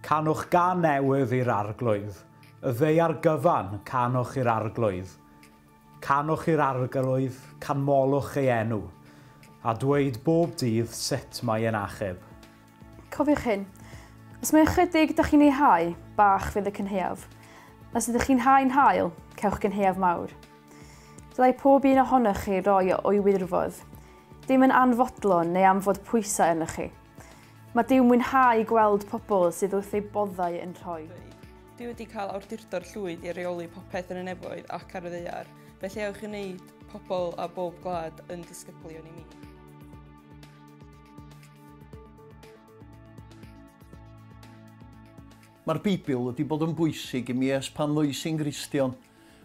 Canwch gan newydd i'r Arglwydd, y ddaear gyfan, canwch i'r Arglwydd. Canwch i'r Arglwydd, canmolwch ei enw, a dweud bob dydd sut mae e'n achub. Cofiwch hyn, Os mae ychydig da chi'n ei hau, bach fydd y cynhaeaf. Os ydych chi'n hau'n hael, cewch gynhaeaf mawr. Dylai pob un ohonoch chi roi o'i wirfodd, dim yn anfodlon neu am fod pwysau yno chi. Mae Dyw mwynhau gweld pobl sydd wrth eu boddau yn rhoi. Duw wedi cael awdurdod llwyd i reoli popeth yn y nefoedd ac ar y ddaear, felly ewch i wneud pobl a bob gwlad yn disgyblion i mi. Mae'r Beibl wedi bod yn bwysig i mi ers pan ddois i'n Gristion.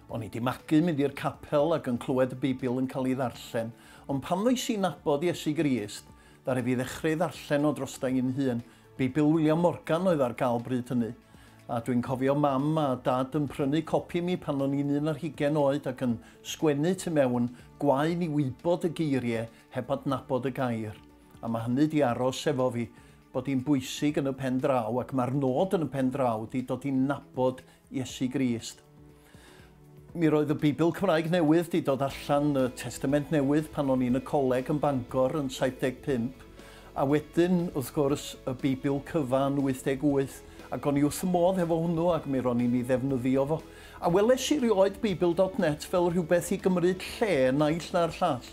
O'n i 'di magu mynd i'r capel ac yn clywed y Beibl yn cael ei ddarllen, ond pan ddois i nabod Iesu Grist, ddaru fi ddechrau ei ddarllen o drosta i'n hun. Beibl William Morgan oedd ar gael bryd hynny, a dwi'n cofio Mam a Dad yn prynu copi i mi pan o'n i'n un ar hugain oed ac yn sgwennu tu mewn, 'Gwae ni wybod y geiriau heb adnabod y gair, a mae hynny 'di aros efo fi, bod hi'n bwysig yn y pen draw, ac mae'r nod yn y pen draw 'di dod i nabod Iesu Grist. Mi roedd y Beibl Cymraeg newydd 'di dod allan, y Testament Newydd, pan o'n i'n y coleg yn Bangor yn 75, a wedyn, wrth gwrs, y Beibl cyfa yn 88, ac o'n i wrth y modd hefo hwnnw ac mi ro'n i'n ei ddefnyddio fo. A weles i rioed Beibl dot net fel rhywbeth i gymryd lle naill na'r llall.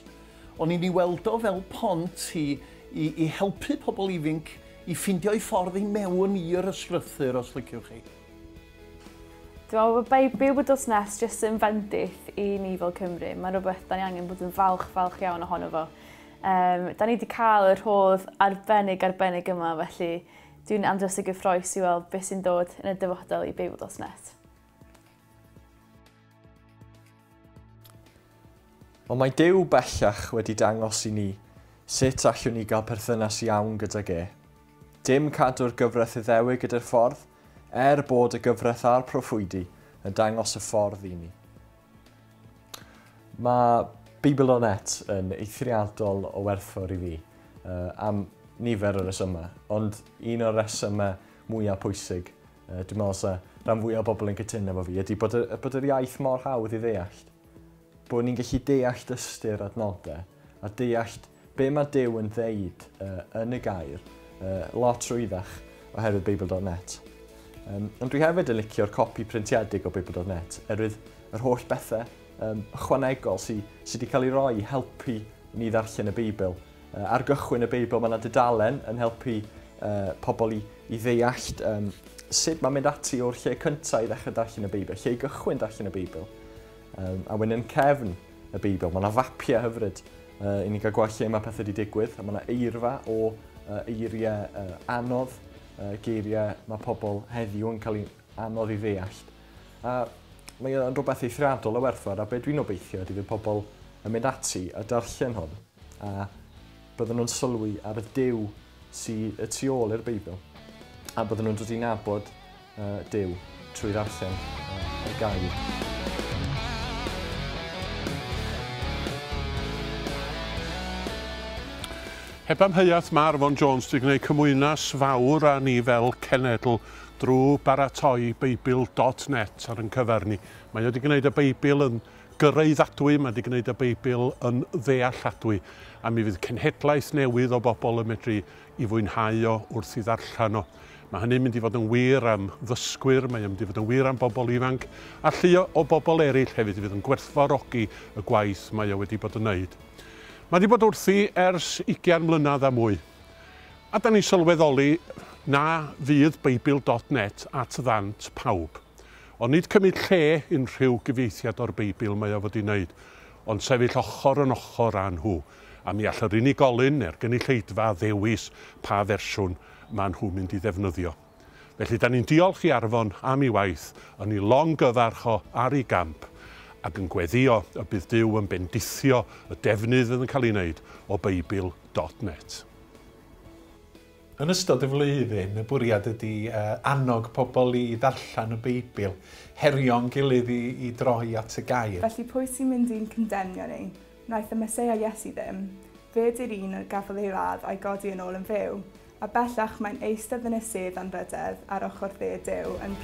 O'n i'n ei weld o fel pont i i i helpu pobl ifinc i ffindio'i ffordd i mewn i'r ysgrythur os liciwch chi. Dwi'n meddwl bod Baby Wythnos Nes jyst yn fendith i ni fel Cymru. Mae'n rhywbeth da ni angen bod yn falch, falch iawn ohono fo. Um, da ni wedi cael yr hodd arbennig arbennig yma, felly dwi'n andros o gyffroes i weld beth sy'n dod yn y dyfodol i Baby Wythnos Nes. Ond mae Duw bellach wedi dangos i ni sut allwn ni gael perthynas iawn gydag e. Dim cadw'r gyfraith Iddewig ydy'r ffordd, er bod y gyfraith a'r proffwydi yn dangos y ffordd i ni. Mae Bibl o Net yn eithriadol o werthfawr i fi uh, am nifer o resymau, ond un o'r resymau mwyaf pwysig Dwi'n meddwl sa rhan fwyaf o bobl yn cytuno efo fi, ydy bod, y, bod yr iaith mor hawdd i ddeallt. Bod ni'n gallu deallt ystyr adnodau a deallt be mae Dyw yn ddeud uh, yn y gair uh, lot rwyddach oherwydd Beibl.net. Um, ond dwi hefyd yn licio'r copi printiedig o Beibl.net, erwydd yr holl bethau um, ychwanegol sydd sy wedi cael ei roi i helpu ni ddarllen y Beibl Ar gychwyn y Beibl mae yna dudalen yn helpu pobl i, i ddeallt um, sut mae'n mynd ati o'r lle cyntaf i ddechrau darllen y Beibl, lle i gychwyn darllen y Beibl. Um, a wedyn yn cefn y Beibl, mae yna fapiau hyfryd uh, i ni gael gweld lle mae pethau wedi digwydd, a mae yna eirfa o uh, eiriau uh, anodd, uh, geiriau mae pobl heddiw yn cael ei anodd i ddeallt. A mae o'n rhywbeth eithriadol o werthfawr a beth dwi'n obeithio ydy fydd pobl yn mynd ati a darllen hwn. A bydden nhw'n sylwi ar y Duw sy y tu ôl i'r Beibl, a bydden nhw'n dod i nabod uh, Duw trwy ddarllen uh, y gair. Heb amheuaeth mae Arfon Jones wedi gwneud cymwynas fawr â ni fel cenedl drwy baratoi Beibl.net ar yn cyfer ni. Mae wedi gwneud y Beibl yn Gyraeddadwy, mae 'di gwneud y Beibl yn ddealladwy, a mi fydd cenhedlaeth newydd o bobl yn medru i fwynhau o wrth i ddarllen o. Mae hynny'n mynd i fod yn wir am ddysgwyr, mae o'n mynd i fod yn wir am bobl ifanc, a llu o, o bobl eraill hefyd fydd yn gwerthfawrogi y gwaith mae o wedi bod yn wneud. Mae 'di bod wrthi ers ugian mlynedd a mwy. A 'dan ni'n sylweddoli na fydd Beibl dot net at ddant pawb. Ond nid cymryd lle unrhyw gyfieithiad o'r Beibl mae o wedi wneud, ond sefyll ochr yn ochr â nhw, a mi all yr unigolyn neu'r gynulleidfa ddewis pa fersiwn maen nhw'n mynd i ddefnyddio. Felly, da ni'n diolch i Arfon am ei waith, yn ei longyfarch o ar ei gamp, ac yn gweddio y bydd Duw yn bendithio y defnydd fydd yn cael ei wneud o Beibl dot net. Yn ystod y flwyddyn, y bwriad ydy annog pobl i ddarllen y Beibl, herio'n gilydd i droi at y Gair. Felly pwy sy'n mynd i'n condemnio ni? Wnaeth y Meseia Iesu ddim. Fe ydy'r un a gafodd ei ladd a'i godi yn ôl yn fyw. A bellach mae'n eistedd yn y sedd anrhydedd ar ochr dde Duw yn